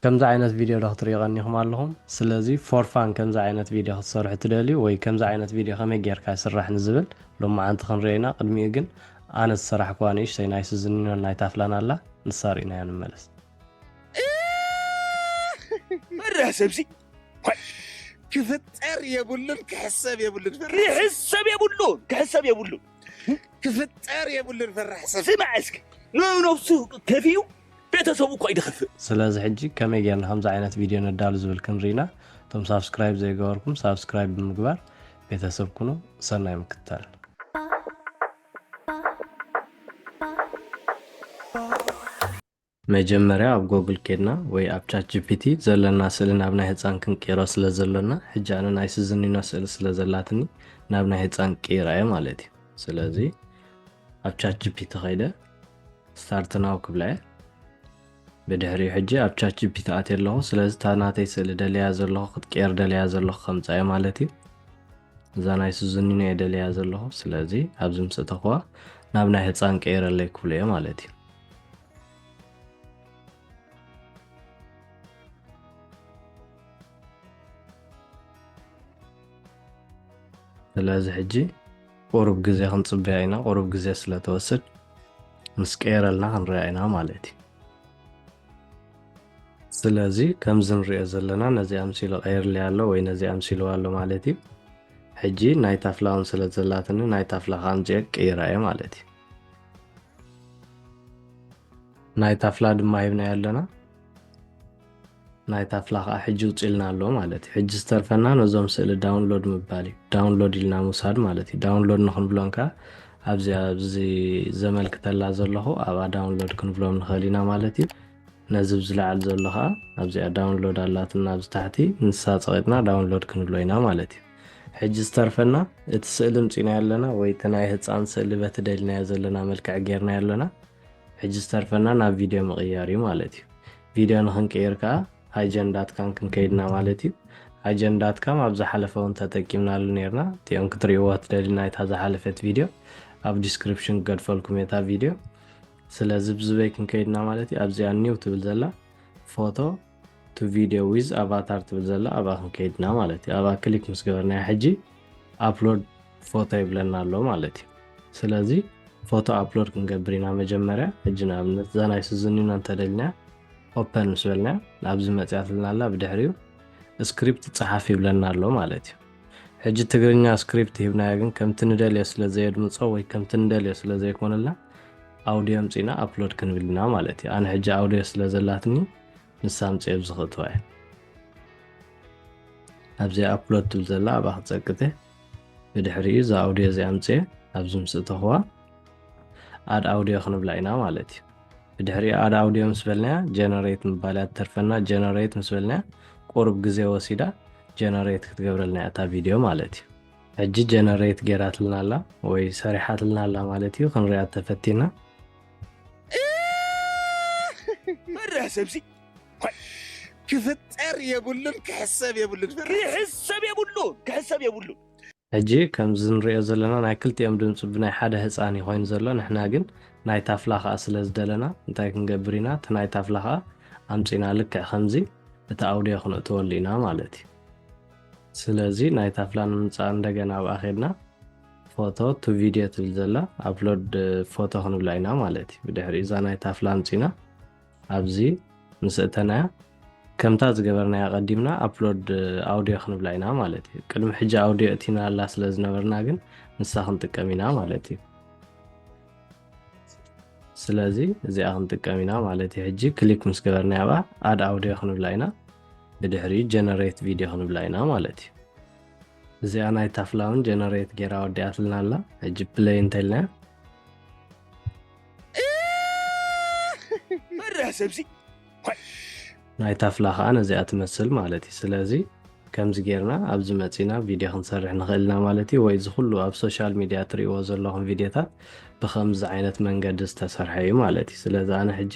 ከምዚ ዓይነት ቪድዮ ዶ ክትሪኡ ቀኒኹም ኣለኹም? ስለዚ ፎር ፋን ከምዚ ዓይነት ቪድዮ ክትሰርሑ ትደልዩ ወይ ከምዚ ዓይነት ቪድዮ ከመይ ጌርካ ይስራሕ ንዝብል ሎማዓንቲ ክንሪኦ ኢና ቅድሚኡ ግን ኣነ ዝሰራሕኩዋ ንእሽተይ ናይ ስዚኒኖን ናይ ታፍላን ኣላ ንሳ ሪእናያ ንመለስ። እኽኽክ ፈራህ ሰብሲ ክፍጠር የብሉን ክሕሰብ የብሉን ክሕሰብ የብሉን ክሕሰብ የብሉን ክፍጠር የብሉን ፈራሕ ሰብ ስማዕ እስኪ ንነብሱ ከፊኡ ቤተሰቡ እኳ ይድኽፍእ። ስለዚ ሕጂ ከመይ ጌርና ከምዚ ዓይነት ቪድዮ ነዳሉ ዝብል ክንርኢና እቶም ሳብስክራይብ ዘይገበርኩም ሳብስክራይብ ብምግባር ቤተሰብ ኩኑ ሰናይ ምክትታል። መጀመርያ ኣብ ጎግል ኬድና ወይ ኣብ ቻት ጂፒቲ ዘለና ስእሊ ናብ ናይ ህጻን ክንቅይሮ ስለ ዘሎና ሕጂ ኣነ ናይ ስዝኒኖ ስእሊ ስለ ዘላትኒ ናብ ናይ ህጻን ቅይራ እየ ማለት እዩ ስለዚ ኣብ ቻት ጂፒቲ ከይደ ስታርት ናው ክብላ እየ ብድሕሪኡ ሕጂ ኣብ ቻት ጂፒቲ ኣትየ ኣለኹ ስለዚ እታ ናተይ ስእሊ ደለያ ዘለኹ ክትቀየር ደለያ ዘለኹ ከምፃ እየ ማለት እዩ እዛ ናይ ስዙኒኖ እየ ደለያ ዘለኹ ስለዚ ኣብዚ ምስ እተኹዋ ናብ ናይ ህፃን ቀይረለይ ክብሉ እየ ማለት እዩ ስለዚ ሕጂ ቁሩብ ግዜ ክንጽበያ ኢና ቁሩብ ግዜ ስለ ትወስድ ምስ ቀየረልና ክንሪኣ ኢና ማለት እዩ። ስለዚ ከምዚ ንሪኦ ዘለና ነዚ ኣምሲሉ ቀይርልያ ኣሎ ወይ ነዚ ኣምሲልዋ ኣሎ ማለት እዩ። ሕጂ ናይ ታፍላ ውን ስለ ዘላትኒ ናይ ታፍላ ከኣ ኣምጺኤ ክቅይራ እየ ማለት እዩ። ናይ ታፍላ ድማ ሂብናዮ ኣለና። ናይ ታፍላ ከኣ ሕጂ ውጺልና ኣሎ ማለት እዩ ሕጂ ዝተርፈና ነዞም ስእሊ ዳውንሎድ ምባል እዩ ዳውንሎድ ኢልና ምውሳድ ማለት እዩ ዳውንሎድ ንክንብሎም ከኣ ኣብዚ ኣብዚ ዘመልክተላ ዘለኹ ኣብኣ ዳውንሎድ ክንብሎም ንኽእል ኢና ማለት እዩ ነዚ ብዝለዓል ዘሎ ከዓ ኣብዚኣ ዳውንሎድ ኣላትና ኣብዚ ታሕቲ ንሳ ፀቂጥና ዳውንሎድ ክንብሎ ኢና ማለት እዩ ሕጂ ዝተርፈና እቲ ስእሊ ምፂና ኣለና ወይ እቲ ናይ ህፃን ስእሊ በቲ ደልናዮ ዘለና መልክዕ ጌርናዮ ኣለና ሕጂ ዝተርፈና ናብ ቪድዮ ምቕያር እዩ ማለት እዩ ቪድዮ ንክንቅይር ከኣ ኣጀን ዳትካም ክንከይድ ኢና ማለት እዩ። ኣጀን ዳትካም ኣብ ዝሓለፈ ውን ተጠቂምናሉ ኔርና እቲኦም ክትርእይዋ ትደልዩ ናይታ ዝሓለፈት ቪድዮ ኣብ ዲስክሪፕሽን ክገድፈልኩም እየ እታ ቪድዮ። ስለዚ ብዝበይ ክንከይድ ኢና ማለት እዩ ኣብዚኣ ኒው ትብል ዘላ ፎቶ ቱ ቪድዮ ዊዝ ኣቫታር ትብል ዘላ ኣብኣ ክንከይድ ኢና ማለት እዩ። ኣብኣ ክሊክ ምስ ገበርናያ ሕጂ ኣፕሎድ ፎቶ ይብለና ኣሎ ማለት እዩ ስለዚ ፎቶ ኣፕሎድ ክንገብር ኢና መጀመርያ ሕጂ ንኣብነት እዛ ናይ ስዝኒና እንተደልና ኦፐን ምስ በልና ናብዚ መፅያትልና ኣላ ብድሕሪኡ ስክሪፕት ፀሓፍ ይብለና ኣሎ ማለት እዩ ሕጂ ትግርኛ ስክሪፕት ሂብናዮ ግን ከምቲ ንደልዮ ስለ ዘየድምፆ ወይ ከምቲ ንደልዮ ስለ ዘይኮነልና ኣውድዮ ምፅና ኣፕሎድ ክንብል ኢና ማለት እዩ ኣነ ሕጂ ኣውድዮ ስለ ዘላትኒ ንሳ ምፅኦ ብዝኽእትዋ እየ ኣብዚ ኣፕሎድ ትብል ዘላ ኣብኣ ክፀቅተ ብድሕሪኡ እዛ ኣውድዮ እዚኣ ኣምፅኤ ኣብዚ ምስ እተኹዋ ኣድ ኣውድዮ ክንብላ ኢና ማለት እዩ ብድሕሪኡ ኣድ ኣውድዮ ምስ በልናያ ጀነሬት ምባል እያ ትተርፈና ጀነሬት ምስ በልናያ ቁርብ ግዜ ወሲዳ ጀነሬት ክትገብረልና እያ እታ ቪድዮ ማለት እዩ ሕጂ ጀነሬት ገይራትልና ኣላ ወይ ሰሪሓትልና ኣላ ማለት እዩ ክንሪኣ ተፈቲና መርያ ሰብሲ ክፍጠር የብሉን ክሕሰብ የብሉን ክሕሰብ የብሉን ክሕሰብ የብሉን። ሕጂ ከምዚ ንሪኦ ዘለና ናይ ክልቲኦም ድምጺ ብናይ ሓደ ህጻን እዩ ኮይኑ ዘሎ ንሕና ግን ናይ ታፍላ ከኣ ስለ ዝደለና እንታይ ክንገብር ኢና እቲ ናይ ታፍላ ከኣ ኣምጺና ልክዕ ከምዚ እቲ ኣውድዮ ክንእትወሉ ኢና ማለት እዩ ስለዚ ናይ ታፍላ ንምምጻእ እንደገና ኣብኣ ኬድና ፎቶ ቱ ቪድዮ ትብል ዘላ ኣፕሎድ ፎቶ ክንብላ ኢና ማለት እዩ ብድሕሪ እዛ ናይ ታፍላ ኣምጺና ኣብዚ ምስ እተናያ ከምታ ዝገበርናያ ቀዲምና ኣፕሎድ ኣውድዮ ክንብላ ኢና ማለት እዩ ቅድሚ ሕጂ ኣውድዮ እቲናላ ስለ ዝነበርና ግን ንሳ ክንጥቀም ኢና ማለት እዩ ስለዚ እዚኣ ክንጥቀም ኢና ማለት እዩ ሕጂ ክሊክ ምስ ገበርና ያባ ኣድ ኣውድዮ ክንብላ ኢና ብድሕሪ ጀነሬት ቪድዮ ክንብላ ኢና ማለት እዩ እዚኣ ናይ ታፍላውን ጀነሬት ጌራ ወዲኣትልና ኣላ ሕጂ ፕለይ እንተልናያ መርሕ ሰብሲ ናይ ታፍላ ከዓ ነዚኣ ትመስል ማለት እዩ ስለዚ ከምዚ ጌርና ኣብዚ መፂና ቪድዮ ክንሰርሕ ንኽእል ኢና ማለት እዩ ወይ እዚ ኩሉ ኣብ ሶሻል ሚድያ ትሪእዎ ዘለኹም ቪድዮታት ብከምዚ ዓይነት መንገዲ ዝተሰርሐ እዩ ማለት እዩ ስለዚ ኣነ ሕጂ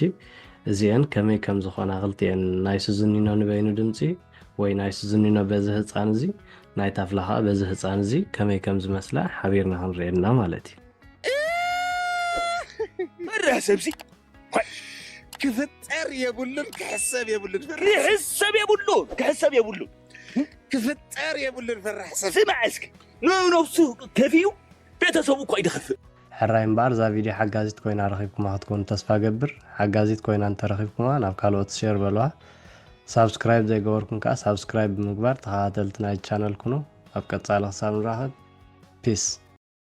እዚአን ከመይ ከም ዝኾና ክልቲኤን ናይ ስዝኒኖ ንበይኑ ድምፂ ወይ ናይ ስዝኒኖ በዚ ህፃን እዚ ናይ ታፍላ ከዓ በዚ ህፃን እዚ ከመይ ከም ዝመስላ ሓቢርና ክንሪኤና ማለት እዩ መርህ ሰብዚ ክፍጠር የብሉን ክሕሰብ የብሉን ክሕሰብ የብሉ ክሕሰብ የብሉ ክፍጠር የብሉን ፍራሕ ሰብ ስማዕ እስኪ ንነብሱ ከፊዩ ቤተሰቡ እኮ ይድኽፍእ ሕራይ እምበኣር እዛ ቪድዮ ሓጋዚት ኮይና ረኺብኩማ ክትኮኑ ተስፋ ገብር ሓጋዚት ኮይና እንተረኺብኩማ ናብ ካልኦት ሸር በልዋ ሳብስክራይብ ዘይገበርኩም ከዓ ሳብስክራይብ ብምግባር ተኸታተልቲ ናይ ቻነል ኩኑ ኣብ ቀፃሊ ክሳብ ንራኸብ ፒስ